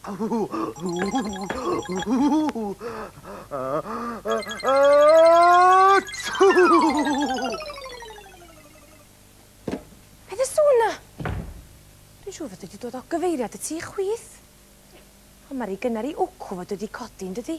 Beth y sŵn na? Dwi'n siŵr fod wedi dod o gyfeiriad y tu chwith. Ond mae rhy gynnar i wcw fod wedi codi, yn dydi?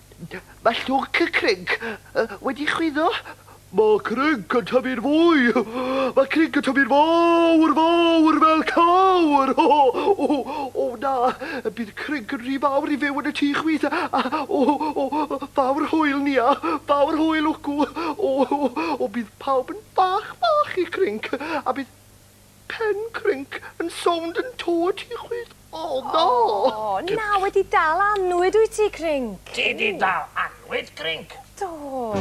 Mae llwc y crync wedi chwyddo. Mae crync yn tyfu'n fwy. Mae crync yn tyfu'n fawr, fawr fel cawr. O, o, o na, bydd crync yn rhy fawr i fyw yn y tŷ chwith. A, o, o, fawr hwyl, Nia, fawr hwyl, Wcw. O, o, o, bydd pawb yn fach, fach i crync, a bydd... Pen crinc yn sownd yn to y tŷ chwith. O na! O, na, wedi dal annwyd wyt ti, Crinc. Ti 'di dal annwyd, Crinc? Do.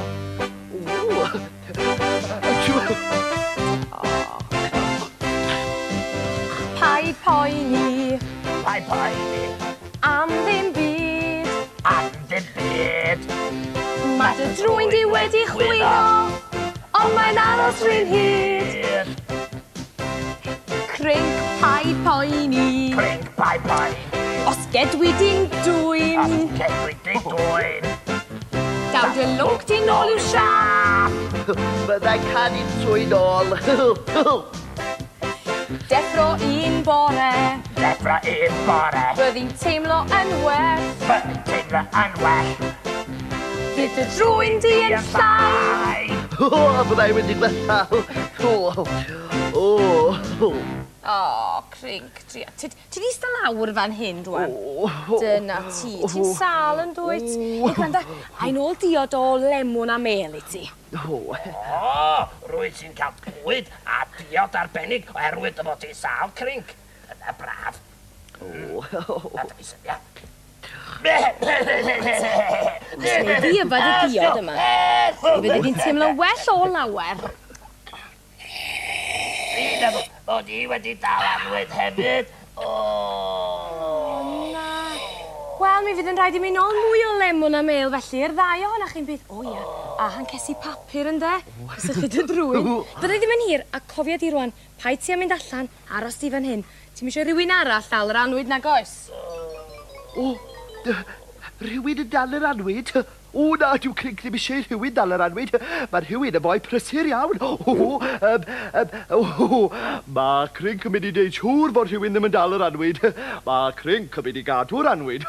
Paid poeni. Paid poeni. Am ddim byd. Am ddim byd. Mae dy drwyn di wedi chwyddo, ond mae'n aros rhy'n hyd. Crinc pai poeni. Crinc pai poeni. Os gedwi di'n dwyn. Os gedwi di'n dwyn. Daw dy lwc di'n ôl i'w siap. Byddai canu'n twyn ôl. Deffro un bore. Deffro un bore. Byddi'n teimlo yn well. Byddi'n teimlo yn well. Bydd y drwy'n di yn llai. O, byddai wedi gwella. O, o, o. O, crinc, tria. Ti di sta lawr fan hyn, rwan. Dyna ti. Ti'n sal yn dwyt? Ei, gwranda, a'n ôl diod o lemwn a mel i ti. Nhw. O! Rwyt ti'n cael bwyd a diod arbennig oherwydd dy fod ti'n sâl crinc. Dyna braf. O! A dyma syniad. Os wnei di yfed y diod yma, fe fyddi di'n teimlo well o lawer. Hyd am bod i wedi dal annwyd hefyd! O! O na! Wel, mi fydd yn rhaid i mi nol mwy o lemwn a mêl felly, yr ddau ohona chi'n byth, o ia, a hancesi papur ynde? Cysylltu dy drwyn. Bydda i ddim yn hir, a cofia di rwan, paid ti a mynd allan, aros di fan hyn. Ti'm isio i rywun arall ddal yr annwyd nag oes? O! Dy- rhywun yn dal yr annwyd? O na, dyw Clink ddim eisiau i rhywun dal yr annwyd. Mae rhywun yn foi prysur iawn. O, yym, yym, o, mae Clink yn mynd i wneud siŵr fod rhywun ddim yn dal yr annwyd. Mae Clink yn mynd i gadw'r annwyd.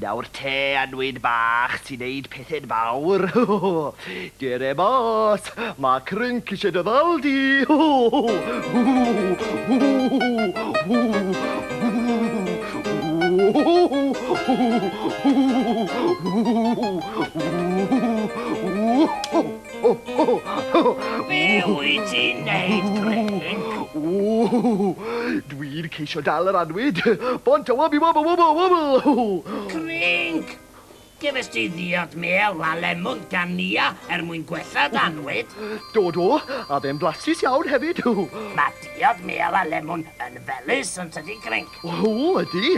Nawr te annwyd bach ti'n neud pethe'n fawr ho ho ho! Dere mas! Mae Crync isie dy ddal di! Ho ho ho! Ho ho ho! Ho ho ho! Be wyt ti'n neud, Greg? Ww, dwi'n ceisio dal yr anwyd. Bont a wabi wobl wobl wobl! Greg! Gefes ti ddiod mêl a lemon gan Nia er mwyn gwella d'anwyd? Do, do, a fe'n flasus iawn hefyd! Mae diod mêl a lemon yn felus, yn tydi, Greg? O, ydy!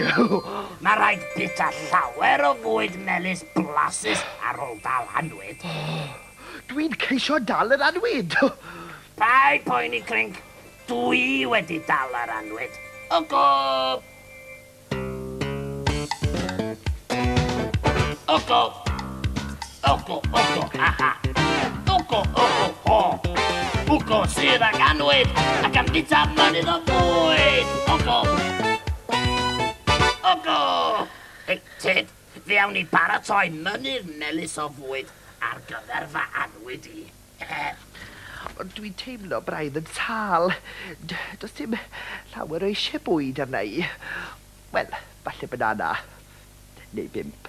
Mae rhaid bita llawer o fwyd melys blasus ar ôl dal anwyd. Dwi'n ceisio dal yr anwyd! Paid poeni, Crinc. Dwi wedi dal yr anwyd. O gof! O gof! Ugo, ugo, ha ha. Ugo, ugo, ho. Ugo sydd ag anwyd ac am bita mynydd o fwyd. Ugo. Ugo. Hei, Ted, fe awn ni baratoi mynydd melys o fwyd ar gyfer fy anwyd i. Ond dwi'n teimlo braidd yn sâl. D- Does dim llawer o eisiau bwyd arna i. Wel, falle banana. Neu bump.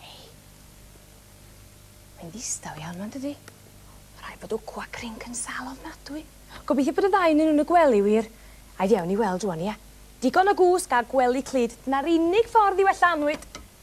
Hei. Mae'n ddistaw iawn ma yndydi? Ma rhaid bod wcw a crinc yn sâl ofnadwy. Gobeithio bod y ddau ynnyn nhw yn y gwely wir. Ai fi awn i weld rwan ia? Digon o gwsg a gwely clyd, dyna'r unig ffordd i wella annwyd.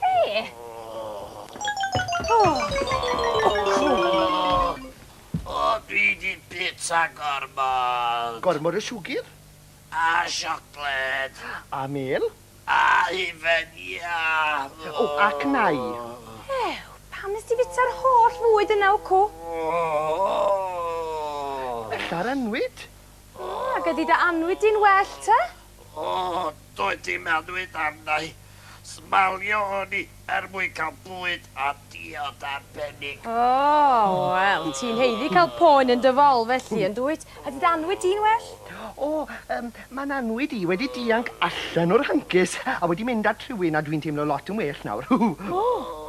Be? O, dwi di bita gormod! Gormod o siwgr? A siocled. A mêl? A hufen iâ! O, ac nai. Ew, pam nes di fita'r holl fwyd yna, wcw? Ella'r annwyd? O, gei di dy annwyd di'n well, ty? O, doedd dim annwyd arna i. Smalio o'n i er mwyn cael bwyd a diod arbennig. O, wel, ti'n haeddu cael poen yn dy fol felly, yn dwyt? Ydy dy annwyd di'n well? O, yym, mae n'annwyd i wedi dianc allan o'r hancis a wedi mynd at rhywun a dwi'n teimlo lot yn well nawr. O!